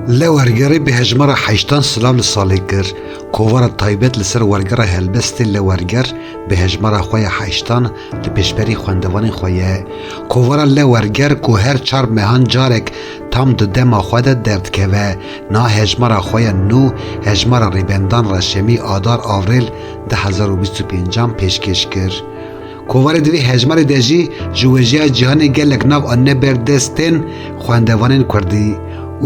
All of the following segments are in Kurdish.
Li Wergerê bi hejmara heştan silav li salê kir. Kovara taybet li ser Wergera Helbestê li Werger bi hejmara xwe ya heştan li pêşberî xwendevanên xwe ye. Kovara li Werger ku her çar mehan carek tam di dema xwe de derdikeve, niha hejmara xwe ya nû Hejmara Rêbendan Reşemî Adar Avrêl du hezar û bîst û pênc an pêşkêş kir. Kovarê di vê hejmarê de jî ji wêjeya cîhanê gelek nav anîne ber destên xwendevanên kurdî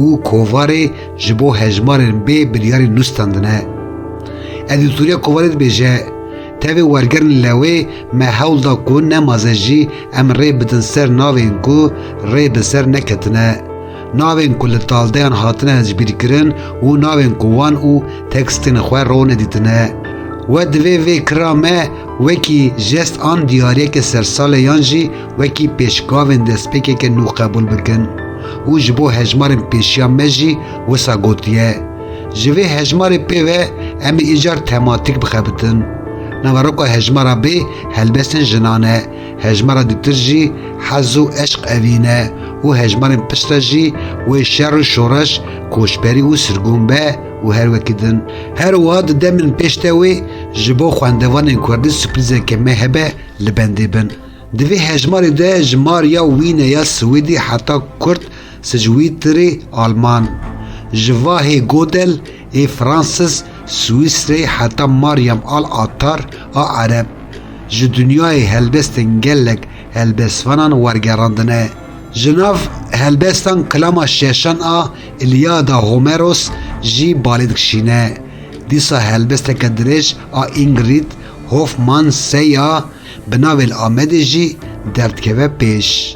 û kovarê ji bo hejmarên bê biryarî nûstandine. Edîtorîya kovarê dibêje, Tevê wergerên lewê me hewl da ku ne maze jî em rê bidin ser navên ku rê bi ser neketine. Navên ku li taldeyan hatine hezbîrkirin û navên ku wan û tekstên xwe rone dîtine. We divê vê kira me wekî jest an diyariyeke sersalê yan jî wekî pêşgavên destpêkeke nû qebûl bikin û ji bo hejmarên pêşiya me jî wisa gotiye. Ji vê hejmarê pê ve em ê îcar tematîk bixebitin. Naveroka hejmara bê helbestên jinan e. Hejmara dûtir jî hez û eşq evîne û hejmarên pişt re jî wê şer û şoreş, koçberî û sirgûn be û her wekî din. Her wiha di demên pêş de wê ji bo xwendevanên kurdî sürprîzeke me hebe li bendê bin. Di vê hejmarê de ji mar ya wîne ya siwîdî heta kurd sicwîtirî alman ji va hê godel Ê Francis Swîsreyê heta Maryam Al Attar a Ereb ji dinyayê helbestên gelek helbestvanan wergerandine. Ji nav helbestan Kilama Şeşan a Îlyada Homeros jî balê dikişîne. Dîsa helbesteke dirêj a Ingrid Hoffman Seya bi navê Li Amedê jî derdikeve pêş.